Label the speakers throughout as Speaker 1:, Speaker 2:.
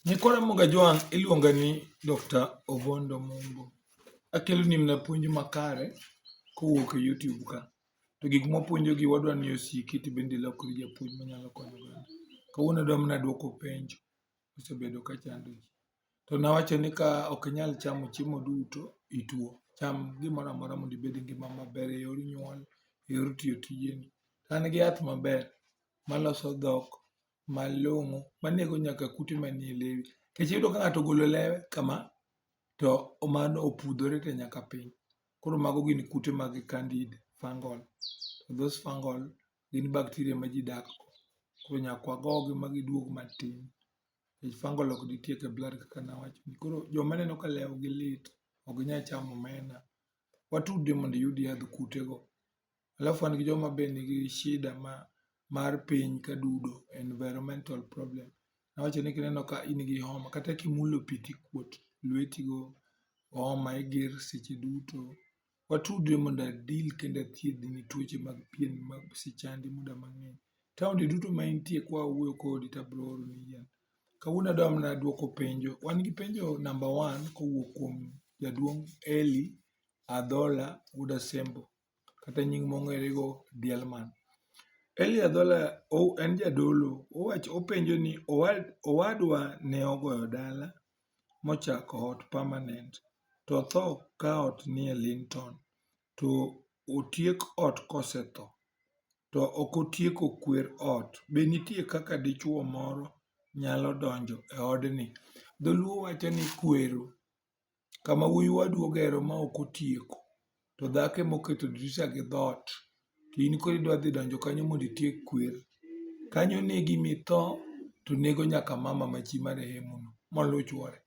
Speaker 1: Nyikwa Ramogi Ajwang' iluonga ni Dr. Obondo Mumbo. Akelo ni mna puonj makare kowuok e YouTube ka. To gik mwapuonjo gi wadwa ni osiki to bende ilokri japuonj manyalo konyo oganda. Kawuono adwa mana duoko penjo mosebedo ka chando ji. To nawacho ni ka ok inyal chamo chiemo duto, ituo. Cham gimoro amora mondo ibed gi ngima maber e yor nyuol, e yor tiyo tijeni. An gi yath maber maloso dhok malong'o manego nyaka kute manie lewi. Nikech iyudo ka ng'ato ogolo lewe kama to mano opudhore te nyaka piny. Koro mago gin kute mag candid fungal. Those fungal gin bacteria ma ji dak go. Koro nyaka wagogi ma giduog matin. Nikech fungal ok ditiek e blood kaka nawacho ni. Koro joma aneno ka lew gi lit ok ginyal chamo omena, watudri mondo iyud yadh kute go. Alafu wan gi joma be nigi shida ma mar piny ka dudo, environmental problem. Awacho ni kineno ka in gi homa kata kimulo pi tikuot lweti go, homa iger seche duto. Watudre mondo a deal kendo athiedhni tuoche mag pien ma osechandi muda mang'eny. Taonde duto ma intie kwa wuoyo kodi tabro oroni yath. Kawuono adwa mana dwoko penjo, wan gi penjo namba wan kowuok kuom jaduong' Elly Adhola wuod Asembo. kata nying mong'ere go Dielman. Eli Adhola en jadolo, owacho openjo ni owadwa ne ogoyo dala mochako ot permanent to otho ka ot nie Linton to otiek ot kosetho to ok otieko kwer ot, be nitie kaka dichuo moro nyalo donjo e odni? Dholuo wacho ni kwero kama wuoyi wadu ogero ma ok otieko, to dhako ema oketo dirisha gi dhoot, to in koro idwa dhi donjo kanyo mondo itiek kwer. Kanyo onegi ma itho to nego nyaka mama ma chi marehemu no moluw chuore.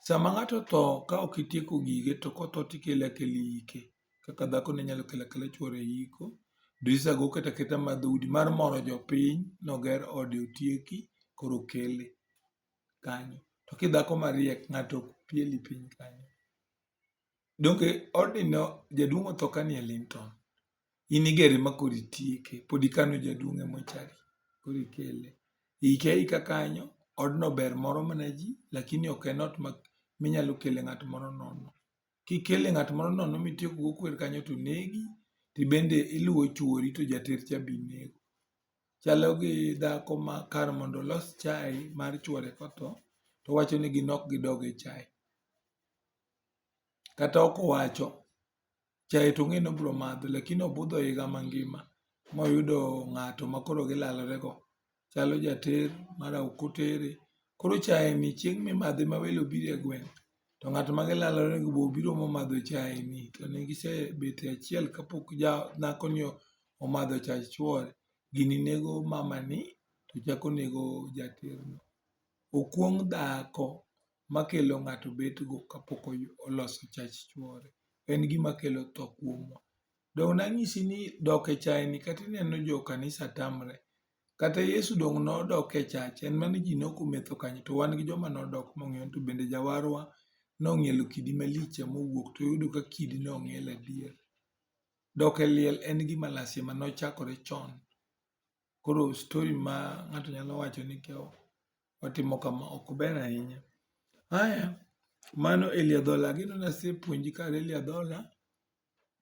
Speaker 1: Sama ng'ato otho ka ok itieko gige to kotho to ikele akela iyike kaka dhako ne nyalo kelo akela chuore e iko. Dirisha go oket aketa mar dhoudi mar moro jopiny ni oger ode otieki koro okele. kanyo. To kidhako mariek ng'ato ok pieli piny kanyo. Donge odino jaduong' otho ka nie Linton. In igere ma koro itieke. Pod ikano jaduong' e mochari. Koro ikele. Ike aika kanyo. Odno ber moro mana ji lakini ok en ot minyalo kele ng'at moro nono. kikele ng'at moro nono mitieko go kwer kanyo to negi to ibende iluwo chuori to jater cha be inego. Chalo gi dhako ma kar mondo olos chae mar chuore kotho to owacho ni gin ok gidog e chae. Kata ok owacho, chae to ong'eyo ni obiro madho lakini obudho higa mangima moyudo ng'ato makoro gilalore go. chalo jater mara ok otere. Koro chae ni chieng' mimadhe ma welo obiro e gweng' to ng'at ma gilalore go be obiro momadho chae ni to ne gisebet e achiel kapok ja dhako ni omadho chach chuore, gini nego mama ni to chako nego jater no. Okuong' dhako ma kelo ng'ato bet go kapok oloso chach chuore. En gima kelo tho kuomwa. Donge nanyisi ni dok e chayeni kata ineno jo kanisa tamre? Kata Yesu donge nodok e chach? En mana ni ji ne ok ometho kanyo to wan gi joma nodok mong'ielo to bende jawarwa nong'ielo kidi malich ema owuok to oyudo ka kidino ong'iel adier. Dok e liel en gima lazima nochakore chon. Koro story ma ng'ato nyalo wacho ni ka watimo kama ok ber ahinya. Haya, mano Elia Dhola. Ageno ni asepuonji kar Elia Dhola.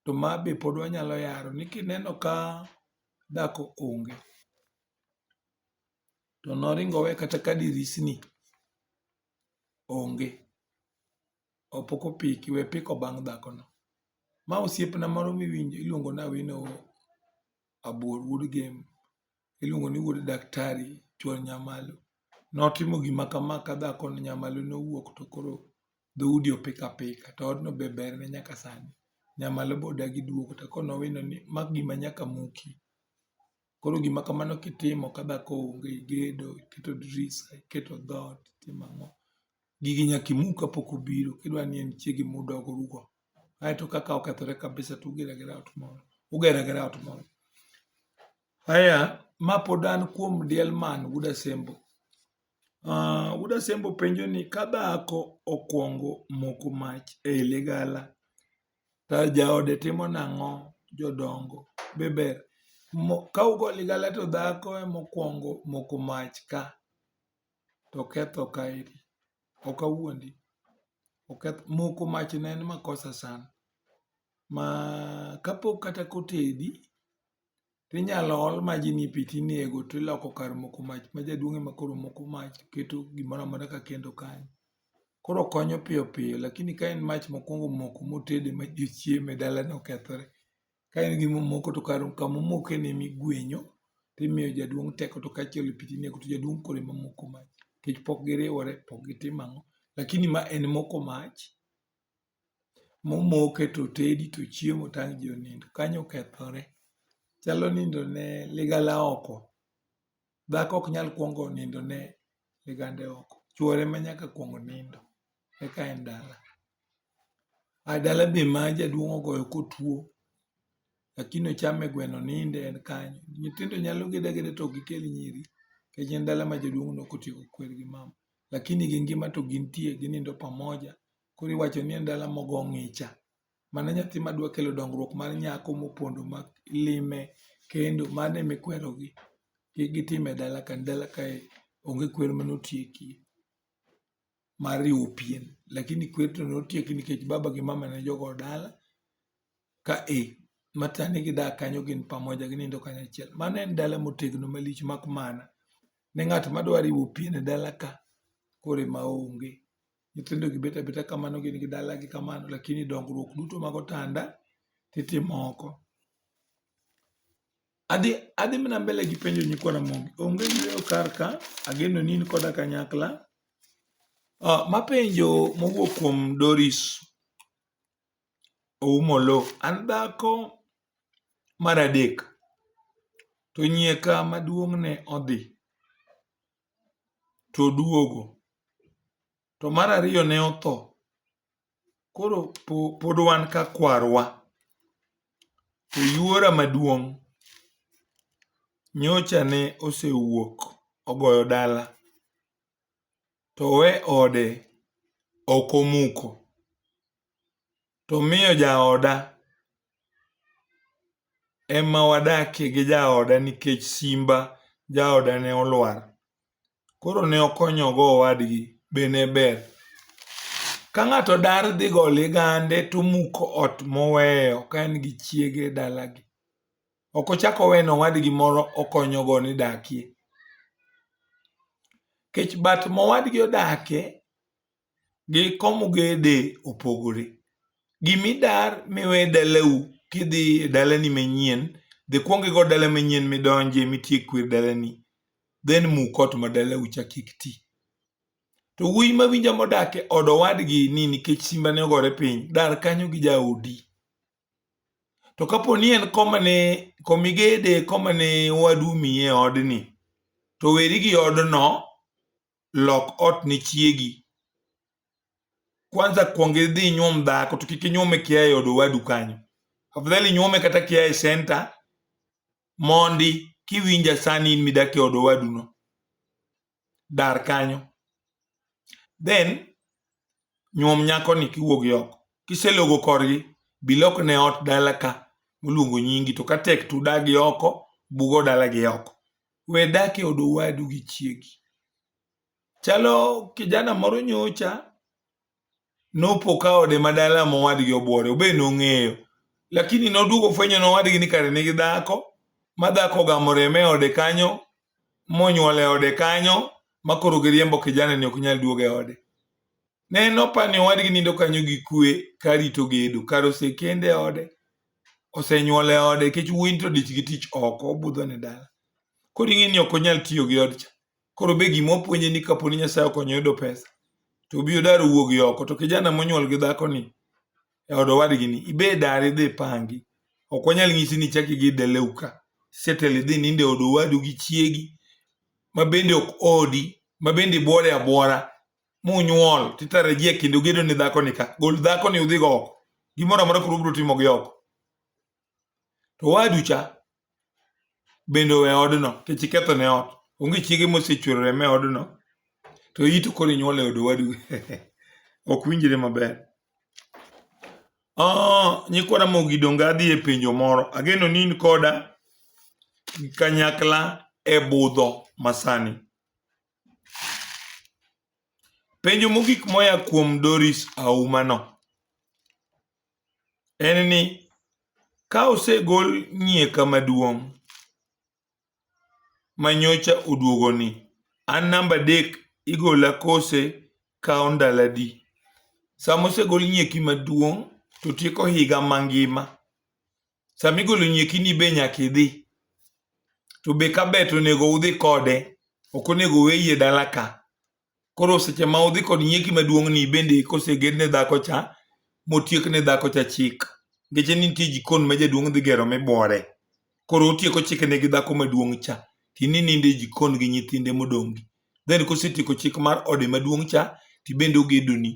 Speaker 1: to ma be pod wanyalo yaro ni kineno ka dhako onge to noring owe kata ka dirisni onge opok opiki we piko bang' dhakono. Ma osiepna moro miwinjo iluongo ni Awino Abuor wuod Gembe. iluongo ni wuod daktari chuor nyamalo notimo gima kama ka dhako ni nyamalo nowuok to koro dhoudi opik apika to odno be ber ne nyaka sani nyamalo be odagi duogo to koro nowino ni ma gima nyaka muki koro gima kamano kitimo ka dhako onge igedo iketo drisa iketo dhoot itimo ang'o gigi nyaka imuk kapok obiro kidwa ni en chiegi mudog ugo aeto kaka okethore kabisa tugero agera ot moro ugero agera ot moro Aya, ma pod an kuom diel man, wuod Asembo. Uh, wuod Asembo penjo ni ka dhako okwongo moko mach ei ligala to jaode timo nang'o jodongo be ber ka ugo ligala to dhako emokwongo moko mach ka to ketho kaeri ok awuondi oketho moko mach ne en makosa sana ma kapok kata kotedi to inyalo ol maji ni e pi to inego to iloko kar moko mach ma jaduong' ema koro moko mach to keto gimoro amora ka kendo kanyo. Koro okonyo piyo piyo lakini ka en mach mokuongo moko motede ma ji ochieme dalane okethore. Ka en gima omoko to kar kama omokeno ema iguenyo to imiyo jaduong' teko to kae to iolo pi to inego to jaduong' koro ema moko mach nikech pok giriwore pok gitimo ang'o lakini ma en moko mach momoke to otedi to ochiemo to ang' ji onindo. Kanyo okethore. Chalo nindo ne ligangla oko. Dhako ok nyal kuongo nindo ne ligande oko. Chuore ema nyaka kuong nindo eka en dala. A dala be ma jaduong' ogoyo kotuo lakini ochame gweno oninde en kanyo. Nyithindo nyalo gedo ageda to ok gikel nyiri nikech en dala ma jaduong' ne ok otieko kwer gi mama. Lakini gi ngima to gintie ginindo pamoja. Koro iwacho ni en dala mogo ng'icha. Mane nyathi ma dwa kelo dongruok mar nyako mopondo ma lime kendo mano ema ikwerogi. Kik gitim e dala ka, dala kae onge kwer mane otiekie mar riwo pien. Lakini kwer to ne otieki nikech baba gi mama ne jogo dala ka e. Ma sani gidak kanyo gin pamoja ginindo kanyachiel. Mano en dala motegno malich mak mana ni ng'at ma dwa riwo pien e dala ka koro ema onge. nyithindo gi bet abeta kamano gin gi dala gi kamano lakini dongruok duto mag otanda titimo oko adhi adhi mana mbele gi penjo nyikwa Ramogi onge yueyo kar ka ageno ni in koda kanyakla uh, mapenjo mowuok kuom Doris Oumolo an dhako mar adek to nyieka maduong' ne odhi to oduogo. To mar ariyo ne otho. Koro pod wan ka kwarwa. To yuora maduong' nyocha ne osewuok ogoyo dala. To owe ode ok omuko. to miyo jaoda ema wadakie gi jaoda nikech simba jaoda ne olwar. Koro ne okonyogo owadgi be ne ber. Ka ng'ato dar dhi go ligande to omuko ot moweyo ka en gi chiege dalagi. Ok ochak oweno owadgi moro okonyogo ni dakie. Nikech but mowadgi odakie gi komugede opogore. Gimidar miwe dalau kidhi e dalani manyien, dhi kwong igo dala manyien midonje mitiek kwe dalani, then muk ot ma dalau cha kik ti. To wuoyi mawinja modak e od owadgi ni nikech simbane ogore piny, dar kanyo gi jaodi. To kapo ni en komane komigede komane owadu omiyi e odni, to weri gi odno lok ot ne chiegi kwanza kwong idhi inyuom dhako to kik inyuome kia e od owadu kanyo afadhali inyuome kata kia e senta mondi kiwinja sani in midak e od owaduno dar kanyo then nyuom nyakoni kiwuogi oko. Kiselogo korgi, bilok ne ot dala ka moluongo nyingi, to ka tek to udagi oko, bugo dala gi oko. We dak e od owadu gi chiegi. Chalo kijana moro nyocha nopo ka ode ma dala ma owadgi obuore, obe nong'eyo. Lakini noduogo fwenyo ni owadgi ni kare nigi dhako, ma dhako ogamo remo e ode kanyo, monyuol e ode kanyo ma koro giriembo kijana ni ok nyal duogo e ode. Ne nopa ni owadgi nindo kanyo gi kwe ka rito gedo, kar osekende e ode, osenyuol e ode nikech wuoyi to dich gi tich oko, obudho ne dala. Koro ing'e ni ok onyal tiyo gi odcha. Koro be gima opuonje ni kaponi Nyasaye okonyo yudo pesa, to obi odar owuogi oko. To kijana monyuol gi dhakoni, e od owadgi ni ibe dar idhi pangi ok wanyal nyisi ni chak idhi daleu ka setel idhi ninde od owadu gi chiegi ma bende ok odi ma bende bwore abwora munyuol titarajia kendo gedo ni dhako ni ka gol dhako ni udhi go oko gimoro amora koro ubiro timo gi oko to owadu cha bende owe odno nikech iketho ne ot. Onge chiege mosechuero remo e odno to iyi to koro inyuolo e od owadu. Ok winjre maber. Oh, nyikwa Ramogi donge adhi e penjo moro. Ageno ni in koda gi kanyakla e budho masani. Penjo mogik moya kuom Doris Auma no. en ni ka osegol nyieka maduong' manyocha oduogoni, an namba adek igola kose kawo ndalo adi? Sama osegol nyieki maduong' to tieko higa mangima. Sama igolo nyiekini be nyaka idhi, to be kabe to onego udhi kode, ok onego oweye dala ka. Koro seche ma udhi kod nyieki maduong' ni bende koseged ne dhako cha motiek ne dhako cha chik ngeche ni nitie jikon ma jaduong' dhi gero mibore koro otieko chike ne gi dhako maduong' cha tini ninde jikon gi nyithinde modongi then kosetieko chik mar ode maduong' cha tibende ogedoni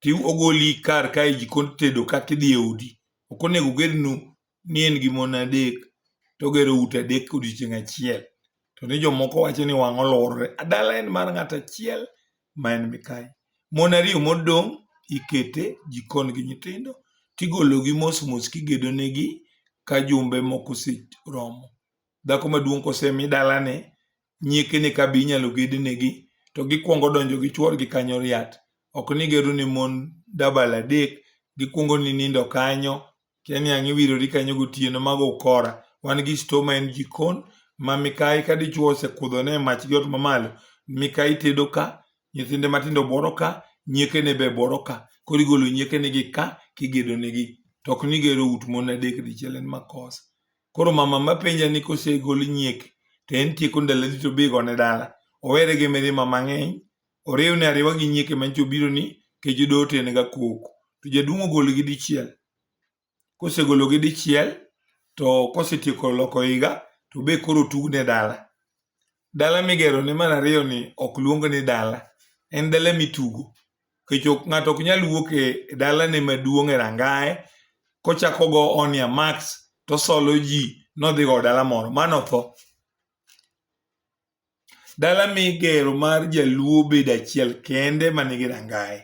Speaker 1: ti ogoli kar kae jikon tedo kaka idhi e odi ok onego ogednu ni en gi mon adek to ogero ute adek e odiechieng' achiel. To ni jomoko wacho ni wang'e oluorore. A Dala en mar ng'at achiel ma en Mikayi. Mon ariyo modong' iketo e jikon gi nyithindo to igologi mos mos ka igedo negi ka jumbe moko oseromo. Dhako maduong' ka osemi dalane, nyiekene ka be inyalo ged negi to gikuongo donjo gi chuorgi kanyo riat. Ok ni igero ne mon dabal adek, gikuongo ni nindo kanyo, Kia ni ang' iwirori kanyo gotieno mago ukora. Wan gi sto ma en jikon ma mikayi ka dichwo osekudhone e mach gi ot mamalo, mikayi tedo ka, nyithinde matindo bworo ka, nyiekene be bworo ka. Koro igolo nyiekenegi ka kigedonegi. To ok ni igero ut mon adek dichiel en makosa. Koro mama mapenja ni kosegol nyieke to en tieko ndaloni to be igone dala, owere gi mirima mang'eny Oriwne ariwa gi nyieke manyicha obiro ni kech doho to en ga koko. To jaduong' ogolgi dichiel. Kosegologi dichiel to kosetieko loko higa to be koro otugne dala. Dala migero ne mar ariyo ni ok luong ni dala. En dala mitugo. Kech ng'ato ok nyal wuok e dalane maduong' e rangaye kochako go onia max tosolo ji nodhigo dala moro. Mano otho. Dala migero mar jaluo bedo achiel kende manigi rangaye.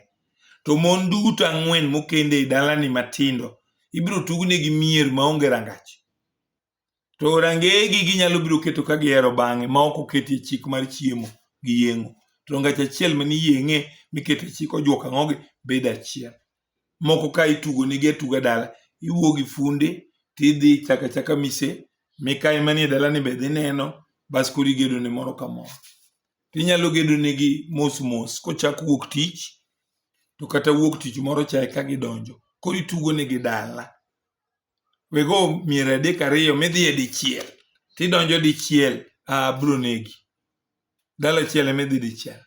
Speaker 1: To mon duto ang'wen mokende e dalani matindo ibiro tugnegi mier maonge rangach. To rangeyegi ginyalo biro keto ka gihero bang'e ma ok oketie chik mar chiemo gi yeng'o. To rangach achiel mani yeng'e mikete chik ojuok ang'ogi bedo achiel. moko ka itugo nigi atuga dala, iwuo gi funde tidhi ichako achaka mise mikayi manie dalani be dhi neno bas koro igedo ne moro ka moro. Tinyalo gedo negi mos mos kochak wuok tich to kata wuok tich moro cha eka gidonjo. Koro itugo negi dala. Wego mier adek ariyo midhiye dichiel tidonjo dichiel, ah biro negi. Dala achiel emidhi dichiel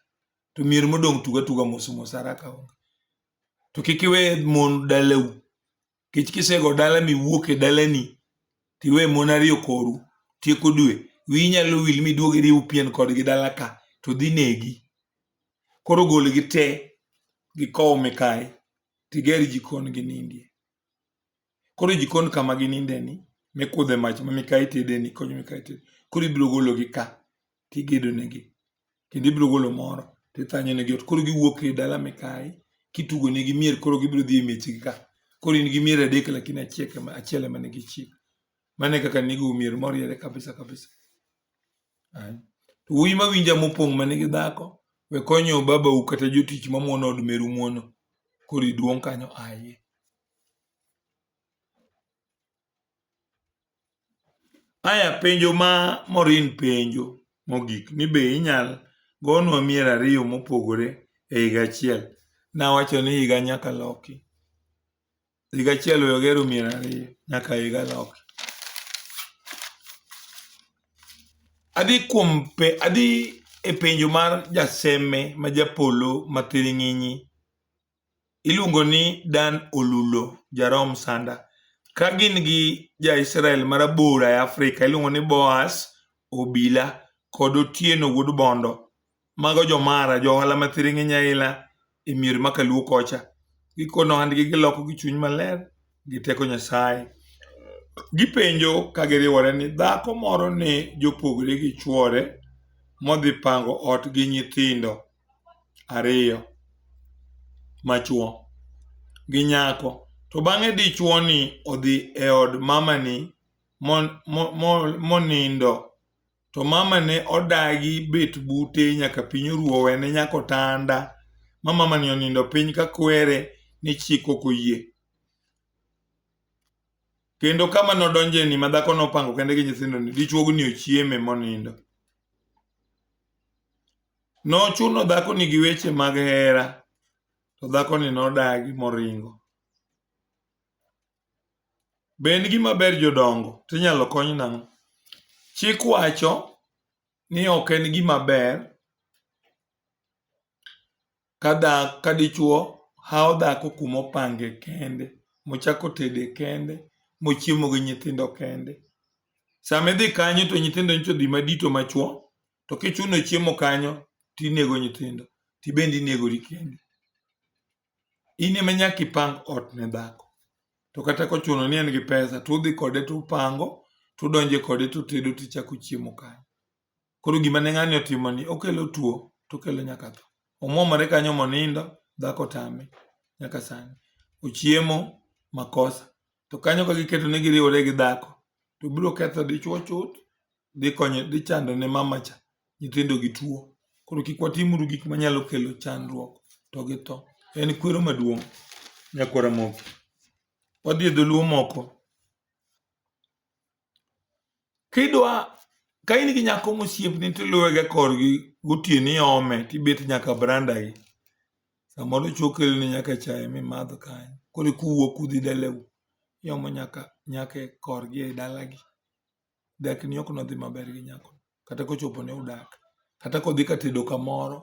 Speaker 1: to mier modong' tugo atuga mos mos haraka onge. to kik iwe mon dalau kech kisego dala miwuok e dalani tiwe mon ariyo koru tieko dwe wi nyalo wil miduog iriw pien kodgi dala ka to dhi negi koro golgi te gi kow mikae tiger jikon gi nindie Koro jikon kama gininde ni mikudhe mach ma mikayi tede ni konyo mikayi tede. Koro ibiro gologi ka tigedo negi. Kendo ibiro golo moro tithanyo negi ot. Koro giwuok e dala mikayi kitugo negi mier koro gibiro dhi e miechgi ka. Koro in gi mier adek lakini achiel ema nigi chik. Mane kaka nigo mier moriere kabisa kabisa. To wuoyi ma winja mopong' ma nigi dhako, we konyo babau kata jotich ma muono od meru muono, koro iduong' kanyo aye. Aya penjo ma Morin penjo mogik ni be inyal gonwa mier ariyo mopogore e higa achiel? Nawacho ni higa nyaka loki. Higa achiel we ogero mier ariyo nyaka higa loki. Adhi kuom pe, adhi e penjo mar jaseme ma japolo ma thiring'inyi. Iluongo ni Dan Olulo, jarom sanda. Ka gin gi ja Israel ma rabora e Afrika iluongo ni Boaz Obila kod Otieno wuod Bondo. Mago jomara, johala ma thiring'iny aila e mier ma kaluo kocha. Gikono ohandgi giloko gi chuny maler gi teko Nyasaye. Gipenjo ka giriwore ni dhako moro ne jopogore gi chwore modhi pango ot gi nyithindo ariyo machwo gi nyako. To bang'e dichwo ni odhi e od mamani monindo to mama ne odagi bet bute nyaka piny oru owene nyaka otanda ma mamani onindo piny ka kwere ni chik ok oyie. Kendo kama nodonjeni ma dhako nopango kende gi nyithindoni, dichuogni ochieme monindo. Nochuno dhakoni gi weche mag hera, to dhakoni nodagi moringo. Be en gima ber jodongo? To inyalo kony nang'o? Chik wacho ni ok en gima ber ka dhako ka dichwo hawo dhako kuma opange kende, mochako otede kende, mochiemo gi nyithindo kende. Sama idhi kanyo to nyithindo nyicha odhi madito machwo, to kichuno chiemo kanyo to inego nyithindo, to in bende inegori kendi. in ema nyaka ipang ot ne dhako to kata kochuno ni en gi pesa to udhi kode to upango to udonje kode to utedo to ichako chiemo kanyo koro gima ne ng'ani otimo ni okelo tuo to okelo nyaka tho omwomore kanyo monindo dhako tame nyaka sani ochiemo makosa to kanyo ka giketo ni giriwore gi dhako to biro ketho dichwo chuth dhi konyo dhi chando ne mama cha nyithindo gi tuo koro kik watimuru gik manyalo kelo chandruok to gi tho en kwero maduong' nyakwara moki wadhi e dholuo moko Kidwa ka in gi nyako mosiepni tiluwe gi e korgi gotieno iome tibet nyaka branda gi. Samoro chi okelni nyaka chae mimadho kanyo koro eka uwuok udhi dalau. Iomo nyaka nyako e korgi e dalagi. Dak ni ok nodhi maber gi nyako kata kochopo ni udak. Kata kodhi ka tedo kamoro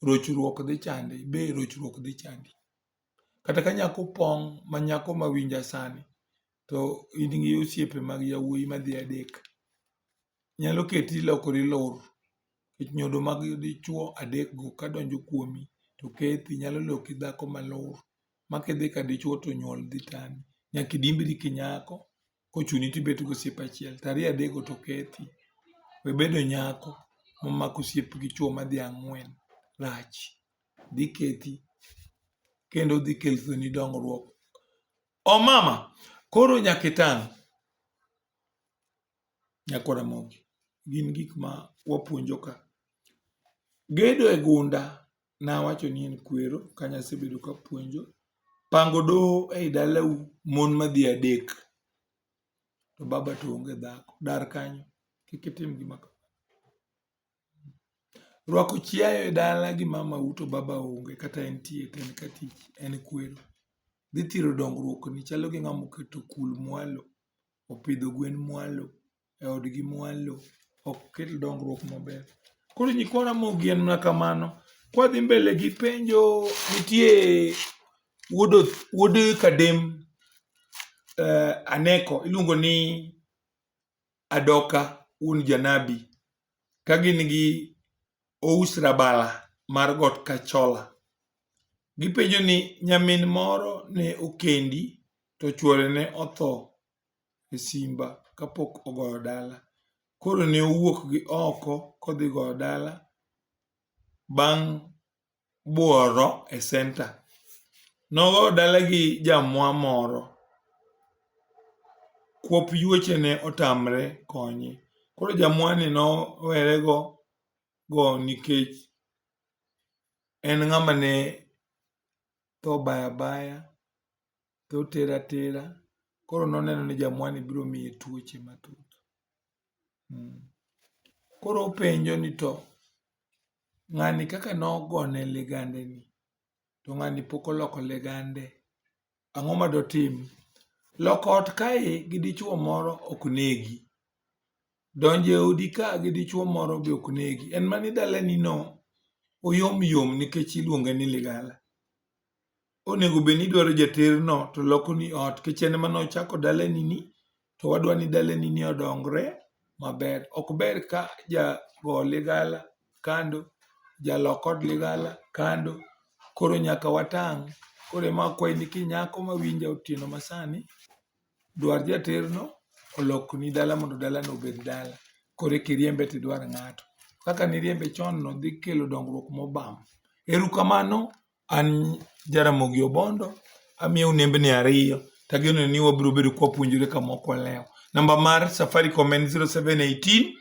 Speaker 1: rochruok dhi chande be rochruok dhi chandi. Kata ka nyako pong' ma nyako ma winja sani to in gi osiepe mag yawuoyi madhi adek, nyalo keti ilokori ilor nikech nyodo mag dichwo adekgo kadonjo kuomi to kethi nyalo loki dhako malor ma kidhi ka dichwo to nyuol dhi tami. Nyaka idimbri kinyako kochuni to ibet gi osiep achiel to ariyo adek go to kethi. We bedo nyako momako osiep gi chuo madhi ang'wen rach. Dhi kethi kendo dhi keloni dongruok. Omama, koro nyaka itang'. Nyako Ramogi, gin gik ma wapuonjo ka. Gedo e gunda nawacho ni en kwero kane asebedo kapuonjo. Pango doho ei dalau mon madhi adek to baba to onge dhako, dar kanyo kik itim gima kamano. Rwako chiayo e dala gi mamau to baba onge kata entie to en ka tich en kwero. Dhi thiro dongruokni chalo gi ng'ama oketo kul mwalo, opidho gwen mwalo. e odgi mwalo ok kel dongruok maber. Koro nyikwa Ramogi en mana kamano. Kwadhi mbele gi penjo nitie wuod Oth- wuod Kadem eh, Aneko iluongo ni Adoka wuon Janabi ka gin gi Ous Rabala mar Got Kachola. Gipenjo ni nyamin moro ne okendi to chuore ne otho e simba kapok ogoyo dala. Koro ne owuok gi oko kodhi goyo dala bang' buoro e senta. Nogo dala gi jamwa moro, kwop yueche ne otamre konye. Koro jamwani nowere go go nikech en ng'ama ne tho baya baya. to otere atera. Koro noneno ni jamwani biro miye tuoche mathoth. Mm. Koro openjo ni to ng'ani kaka nogone ligande ni, to ng'ani pok oloko ligande, ang'o ma dotim? Loko ot kae gi dichuo moro ok negi. Donjo e odi ka gi dichuo moro be ok negi. En mana ni dalani no oyom yom nikech iluonge ni ligala. onego bed ni idwaro jaterno to loko ni ot kech en ema nochako dalani ni to wadwa ni dalani ni odongre maber ok ber ka jago ligala kando jalok od ligala kando koro nyaka watang' koro ema akwayi ni kinyako mawinja otieno masani dwar jaterno olokni dala mondo dalano obed dala koro eka iriembe tidwar ng'ato kaka niriembe chon no dhi kelo dongruok mobam, erukamano. An Jaramogi Obondo, amiyou nembni ariyo to ageno ni wabiro bedo ka wapuonjore ka mok walewo. Namba mar Safaricom en 0718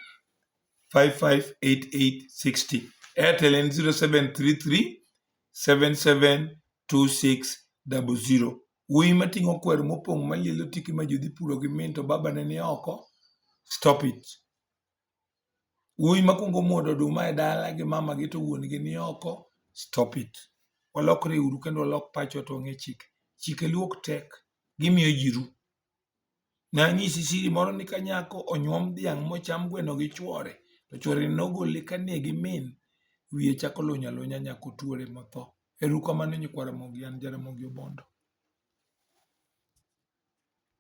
Speaker 1: 558860. Airtel en 0733 772600. Wuoyi mating'o kwer mopong' malielo tiki ma jodhi puro gi min to babane ni oko, stop it. Wuoyi makwongo muodo oduma e dala gi mama gi to wuon gi ni oko, stop it. Walokre uru kendo walok pachwa to wang'e chike. Chike luo ok tek, gimiyo ji ru. Ne anyisi siri moro ni ka nyako onyuom dhiang' mocham gweno gi chwore, to chwore nogole ka ne gi min, wiye chako luny alunya nyaka otuore motho. Ero uru kamano nyikwa Ramogi, an ja Ramogi Obondo.